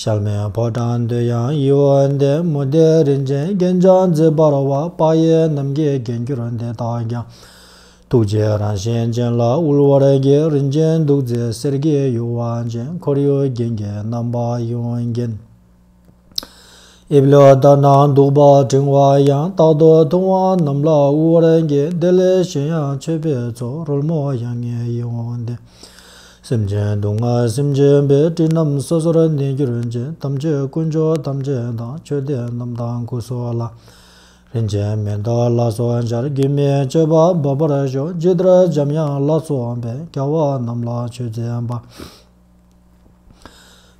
ཞལ་མེ་ཕོ་བྲང་བདུད་དབྱངས་ཡིད་འོང་ལྡན་མོ་བདེ་རིན་ཅེན་རྒྱན་འཇམ་མཛེས་འབར་བ་དཔག་ཡས་རྣམ་རྒྱལ་རྒྱན་གྱུར་འདི་དག་ཀྱང། ཐུགས་རྗེ་རང་བཞིན་ཅན་ལ་དབུལ་བར་བགྱི་རིན་ཅེན་གདུགས་མཛེས་སེར་སྐྱའི་ཡུ་བ་ཅན་འཁོར་ཡུག་རྒྱན་གྱི་རྣམ་པ་གཡོན་རྒྱན། དབྱིབས་ལ་ལྟ་ན་སྡུག་པ་བྲིང་བ་ཡང་རྟག་ཏུ་ཐུང་བ་རྣམས་ལ་དབུལ་བར་འགྱེད་དེ་ལས་གཞན་ཡང་མཆོད་པའི་ཚོགས་རོལ་མོ་ཡང་ངེས་ཡིན་འོང་སྟེ། སེམས་ཅན་སྡུག་བསྔལ་སེམས་ཅན་པའི་སྤྲིན་རྣམས་སོ་སོར་གནས་གྱུར་ཅན་ཐམས་ཅད་དཀོན་མཆོག་ཐམས་ཅད་དང་མཆོད་རྟེན་རྣམས་དང་སྐུ་སོགས་ལ། རིན་ཆེན་མེ་ཏོག་ལ་སོགས་འབྱར་དགུས་མའི་མཆོད་པ་འབབ་པར་ཤོག་ཇི་ལྟར་འཇམ་དབྱངས་ལ་སོགས་པའི་སྐྱ་བ་རྣམས་ལ་མཆོད་རྫས་འབའ།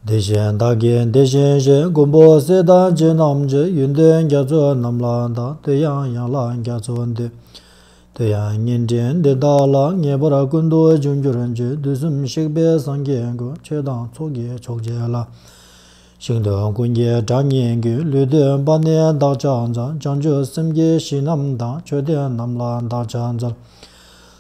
དེ་བཞིན་བདག་གིས་འདི་བཞིན་བཤད་མགོན་པོ་གསེར་ཐང་ཆེན་རྣམས་ཀྱི་ཡོན་ཏན་རྒྱ་མཚོ་རྣམས་ལ་དང་དུ་ཡང་ཡན་ལག་རྒྱ་མཚོ་འདི་དུ་ཡང་བརྙན་འཕྲིན་འདི་དག་ལ་ངེས་པར་ཀུན་ཏུ་འབྱུང་འགྱུར་གྱི་དུས་གསུམ་གཤེགས་པའི་སངས་རྒྱས་ཀྱི་ཆོས་དང་ཚོགས་ཀྱི་མཆོག་བྱས་ལ། ཞིང་དུ་ཀུན་གྱི་གྲགས་སྙན་གྱི་ལུས་དུད་པ་ནས་བདག་ཅག་འཛམ་བྱང་ཆུབ་སེམས་ཀྱི་གཞི་རྣམས་དང་མཆོད་རྟེན་རྣམས་ལ་བདག་ཅག་འཛམ་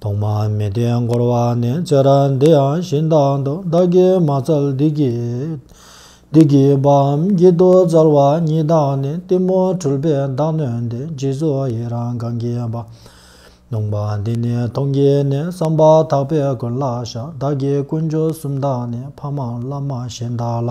ཐོག་མ་མི་བདེ་འགོར་བ་ནི་ཅི་ར་འདི་ཡང་གཞན་དག་འདུག་བདག་གིས་མ་བཙལ་བདུད་ཀྱི་བདུད་ཀྱི་བའམ་བགྱིད་དུ་བཙལ་བ་ཉིད་དག་ནི་གཏི་མུག་འཁྲུལ་པའི་བདག་གནོན་ཏེ་རྗེས་སུ་ཡི་རང་གང་གིས་པ། ནོངས་པ་འདི་ནི་མཐོང་གི་ནི་བསམ་པ་དག་པའི་ཀུན་ལ་བཞག་བདག་གིས་དཀོན་མཆོག་གསུམ་དག་ནི་ཕ་མ་བླ་མ་གཞན་དག་ལ།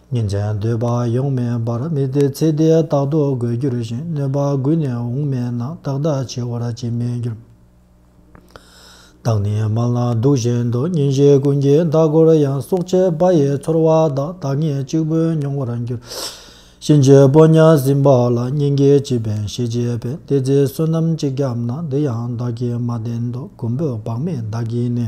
ཉིན་མཚན་སྡོད་པ་ཡོང་མེད་པར་མི་དེ་ཚེ་འདིའི་རྟག་ཏུ་དགོད་གྱུར་བཞིན་གནོད་པ་འགུལ་ནས་འོང་མེད་ན་ཏག་ཏག་འཆི་བར་བྱེད་མི་འགྱུར། བདག་ནི་མ་ལ་སྡུག་བཞིན་དུ་ཉིན་བཞི་ཀུན་གྱི་ཟླ་གོར་ཡང་སྲོག་ཆད་པ་ཡི་ཚོར་བ་དག་བདག་ཉིད་གཅིག་པུས་མྱོང་བར་འགྱུར། གཤིན་རྗེ་པོ་གཉའ་ཟིན་པ་ལ་སྙིང་གི་བྱིས་པའི་ཤེས་བྱེད་པས་དེ་ཚེ་བསོད་ནམས་གཅིག་བརྒྱབ་ན་འདི་ཡང་བདག་གིས་མ་བསྟེན་དུ་གུང་པོས་བག་མེད་བདག་གིས་ནི།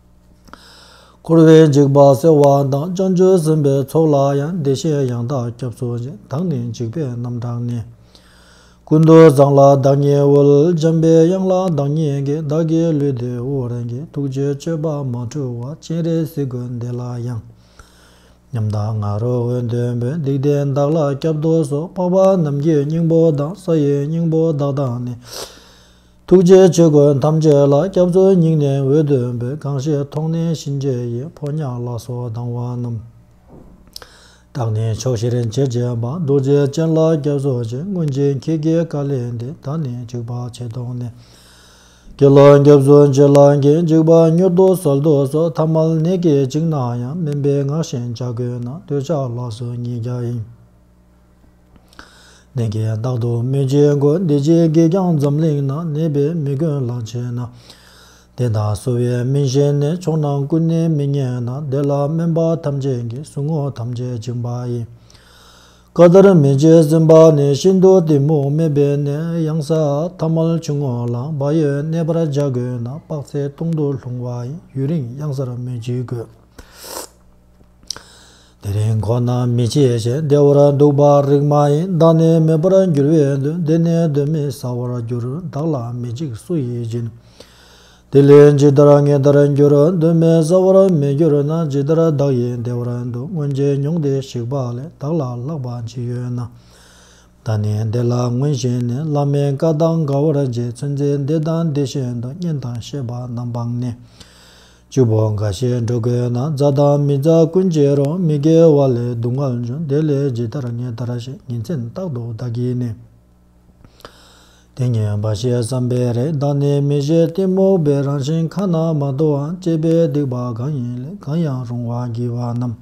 འཁོར་བའི་འཇིགས་པ་སེལ་བ་དང་བསྐྱངས་ཆོས་ཟིན་པའི་ཚོགས་ལ་ཡང་བདེ་གཤེགས་ཡང་དག་སྐྱབས་སུ་དང་ནི་འཇིགས་པའི་རྣམ་གྲངས་ནི། ཀུན་ཏུ་བཟང་ལ་བདག་ཉིད་དབུལ་འཇམ་པའི་དབྱངས་ལ་བདག་ཉིད་ཀྱི་བདག་གི་ལུས་བདེ་བོ་རང་གི་ཐུགས་རྗེའི་སྤྱོད་པ་མ་འཁྲུལ་བ་སྤྱན་རས་གཟིགས་དགོས་འདི་ལ་ཡང། ཉམས་དང་ང་རོ་འོད་འདོད་འབོད་སྡིག་ལྡན་བདག་ལ་སྐྱབས་སྡོ་སོགས་འཕགས་པ་རྣམས་ཀྱི་སྙིང་པོ་དང་ས་ཡི་སྙིང་པོ་བདག་དང་ནི། ཐུགས་རྗེའི་ཆོས་གོས་ཐམས་ཅད་ལ་སྐྱབས་འཚོལ་སྙིང་ནས་འོད་འདོན་པའི་གང་ཞིག་མཐོང་ནས་གཤིན་རྗེ་ཡི་ཕོ་ཉ་ལ་སོགས་སྡང་བ་རྣམས་དག་ནས་ཕྱོགས་བཞིར་མཆེད་བརྒྱད་པ་རྡོ་རྗེ་ཅན་ལ་སྐྱབས་སོ་ཅིག་སྔོན་གྱི་ཁྱི་དགེའི་བཀའ་ལས་འདི་ད་ནི་འཇིགས་པ་ཆེ་དོགས་ནས་ཁྱི་ལ་སྐྱབས་སོ་ཅིག་ལ་ཁྱི་འཇིགས་པ་མྱུར་དུ་གསོལ་ཏོ་སོགས་ཐ་མལ་ནད་ཀྱིས་བཅིངས་ན་ཡང་སྨན་པའི་སྔགས་བཞིན་བྱ་དགོས་ན་འདོད་ཆགས་ལགས་སོ་ཉིས་བརྒྱ་ཡིན། ནས་ཀྱང་རྟག་ཏུ་མི་བྱེད་གོ། འདི་ཅིའི་གེགས་ཀྱང་འཛམ་གླིང་ན་གནས་པའི་མི་ཀུན་ལ་བྱེད་ན། དེ་དག་གསོ་བའི་སྨིན་བྱེད་ནི་མཆོག་རྣམས་ཀུན་ནི་མི་རྙེད་ན་དེ་ལ་སྨན་པ་ཐམས་ཅད་ཀྱི་ཟུག་རྔུ་ཐམས་ཅད་བཅིངས་པ་ཡིན། བཀའ་ལྟར་མི་བྱེད་ཟིན་པ་ནི་ཤིན་ཏུ་གཏི་མུག་སྨད་པའི་ནད་གཡང་ས་ཐ་མལ་ཆུང་ངུ་ལ་བ་ཡོས་གནས་པར་བྱ་དགོས་ན་དཔག་ཚད་སྟོང་དུ་ལྷུང་བ་ཡིན་ཡུན་རིང་གཡང་སར་མི་འཇིག་གོ། དེ་རིང་ཁོ་ན་མི་ཆེ་ཞེས་བདེ་བར་འདུག་པ་རིགས་མ་ཡིན་བདག་ནི་མེད་པར་འགྱུར་བས་དུས་འདི་ནས་གདོན་མི་ཟ་བར་འགྱུར་བདག་ལ་མི་འཇིགས་སུ་ཡིས་སྦྱིན། དེ་ལས་ཇི་ལྟར་ངེས་ལྟར་འགྱུར་གདོན་མི་ཟ་བར་མི་འགྱུར་ན་ཇི་ལྟར་བདག་ཡིད་བདེ་བར་འདུག་སྔོན་རྗེས་མྱོང་དེ་ཞིག་པ་ལས་བདག་ལ་ལྷག་པ་ཇི་ཡོད་ན། བདག་ནི་འདི་ལ་སྔོན་བཞིན་ནི་བླ་མའི་བཀའ་དང་འགལ་བར་རྗེ་བཙུན་ཚེ་འདས་དང་འདི་བཞིན་དུ་བསྙེན་དང་ཤེས་པ་རྣམ་སྤངས་ནས། བཅུ་པོ་འགའ་ཤས་འགྲོ་དགོས་ན་རྫ་དང་མི་རྫ་ཀུན་བརྗེ་རོགས་མི་དགེ་བ་ལས་སྡུག་བསྔལ་འབྱུང་དེ་ལས་ཇི་ལྟར་ངས་ད་ར་ཞིག་ཉིན་མཚན་རྟག་ཏུ་བདག་གིས་ནི། དེ་ཉིད་འབའ་ཞིག་བསམ་པས་རེད་བདག་ནི་མི་གཞི་གཏི་མུག་པའི་རང་བཞིན་ཁ་ན་མ་ཐོའང་དཔྱད་པས་སྡིག་པ་གང་ཡིན་ལས་གང་ཡང་རུང་བར་བགྱི་བ་རྣམས།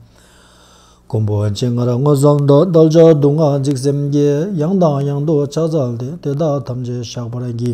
ཀུན་པོ་ཇི་སྔར་སྔོ་བསངས་མདོག་རྡོལ་འཇོག་སྡུག་བསྔལ་འཇིགས་སེམས་ཀྱིས་ཡང་དང་ཡང་དུ་ཕྱག་འཚལ་ཏེ་དེ་དག་ཐམས་ཅད་བཤགས་པར་བགྱི།